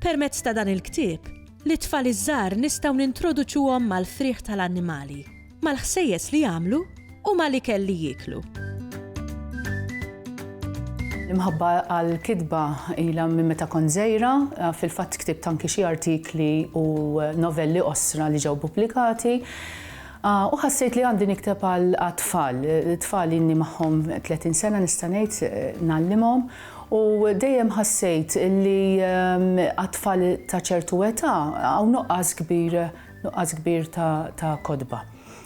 Permezz ta' dan il-ktieb, lit-tfal iż-żgħar nistgħu nintroduċuhom mal-frieħ tal-annimali, mal-ħsejjes li jagħmlu u mal-ikel li jieklu. L-imħabba għall-kitba ilha minn meta kont żgħira, fil-fatt ktibt anki xi artikli u novelli qosra li ġew pubblikati. U ħassejt li għandi nikteb għal tfal, tfal inni magħhom 30 sena nista' ngħid nallimhom U dejjem ħassejt li għat-tfal ta' ċertu età hawn nuqqas kbir, nuqqas kbir ta' kotba.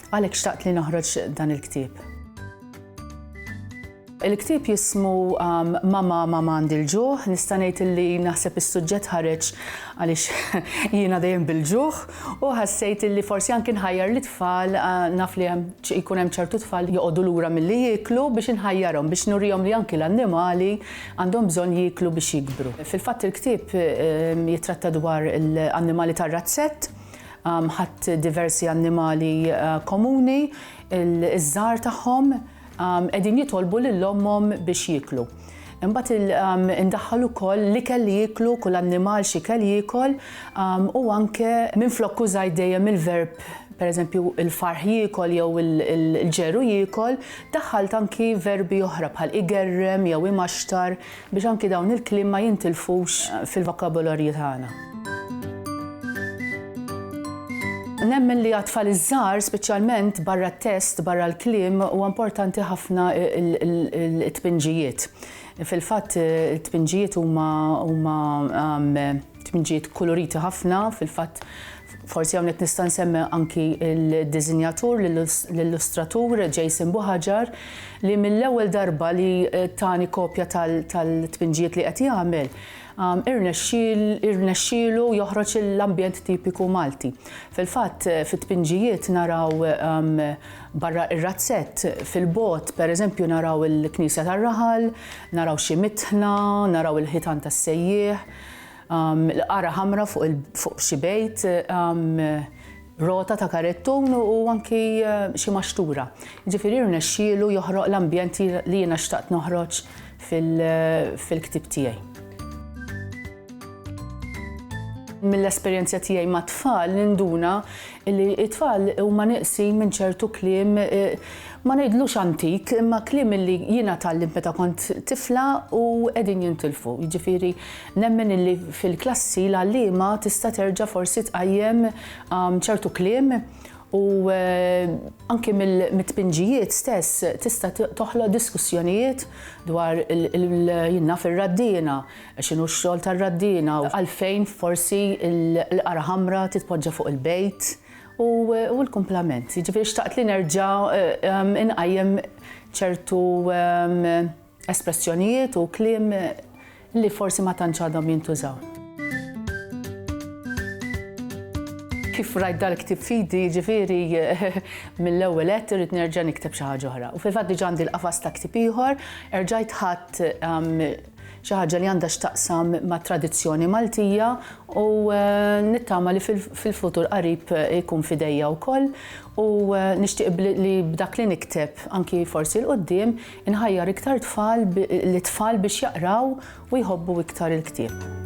Għalhekk xtaqt li noħroġ dan il-ktieb. Il-ktieb jismu Mama, Mama Għandi l-Ġuħ. Nista' ngħid li naħseb is-suġġett ħareġ għaliex jiena dejjem bil-ġuħ. U ħassejt li forsi anki nħajjar lit-tfal, naf li hemm, jkun hemm ċertu tfal li joqogħdu lura milli jieklu, biex inħajjarhom, biex nurihom li anki l-annimali għandhom bżonn jieklu biex jikbru. Fil-fatt il-ktieb jittratta dwar l-annimali tar-razzett, ħadt diversi annimali komuni, iż-żgħar tagħhom, Qegħdin jitolbu lil ommhom biex jieklu. Imbagħad indaħħal ukoll l-ikel li jieklu, kull annimal x'ikel jiekol u anke minflok użajt dejjem il-verb pereżempju il-farħ jiekol jew il-ġeru jiekol, daħħalt anki verbi oħra bħal igerrem jew imaxtar Biex anki dawn il-kliem ma jintilfux fil-vokabolarju tagħna. Nemmen li għat-tfal iż-żgħar, speċjalment barra t-test, barra l-kliem, huwa importanti ħafna t-tpinġijiet. Fil-fatt, it-tpinġijiet huma tmġiet kuluriti ħafna, fil-fatt forsi hawnhekk nista' nsemmi anki l-diżinjatur, l-illustratur Jason Buħaġar li mill-ewwel darba li eh, tani kopja tal-tpinġijiet li qed jagħmel um, irnexxielu joħroġ l-ambjent tipiku Malti. Fil-fatt eh, fit-tpinġijiet naraw um, barra ir-razzett fil-bot, per eżempju naraw il-Knisja tar-Raħal, naraw xi mitħna, naraw il-ħitan tas-sejjieħ, L-qara ħamra fuq xi bejt, rota ta' karettun u anki xi maxtura. Ġifieri rnexxielu joħroq l-ambjent li jiena xtaqt noħroġ fil-ktieb tiegħi. Mill-esperjenza tiegħi mat-tfal ninduna Illi t-tfal huma nieqsin minn ċertu kliem, ma ngħidlux antik, imma kliem illi jiena tgħallimt meta kont tifla u qegħdin jintilfu. Jiġifieri nemmen illi fil-klassi l-għalliema tista' terġa' forsi tqajjem ċertu kliem u anki mit-tpinġijiet stess tista' toħloq diskussjonijiet dwar jien naf ir-raddiena, X'inhu x-xogħol tar-raddiena u għalfejn forsi l-qara ħamra titpoġġa fuq il-bejt u l-kumplament. Jiġifieri xtaqt li nerġa' inqajjem ċertu espressjonijiet u kliem li forsi ma tantx għadhom jintużaw. Kif rajt dal-ktieb f'idi, jiġifieri mill-ewwel għedt irrid nerġa' nikteb xi ħaġa oħra. U fil-fatt diġà għandi l-qafas ta' ktieb ieħor, erġajt ħadt xi ħaġa li għandha x'taqsam mat-tradizzjoni Maltija u nittama li fil-futur qarib jkun f'idejja wkoll u nixtieq li b'dak li nikteb anki forsi 'l quddiem inħajjar iktar tfal lit-tfal biex jaqraw u jħobbu iktar il-ktieb.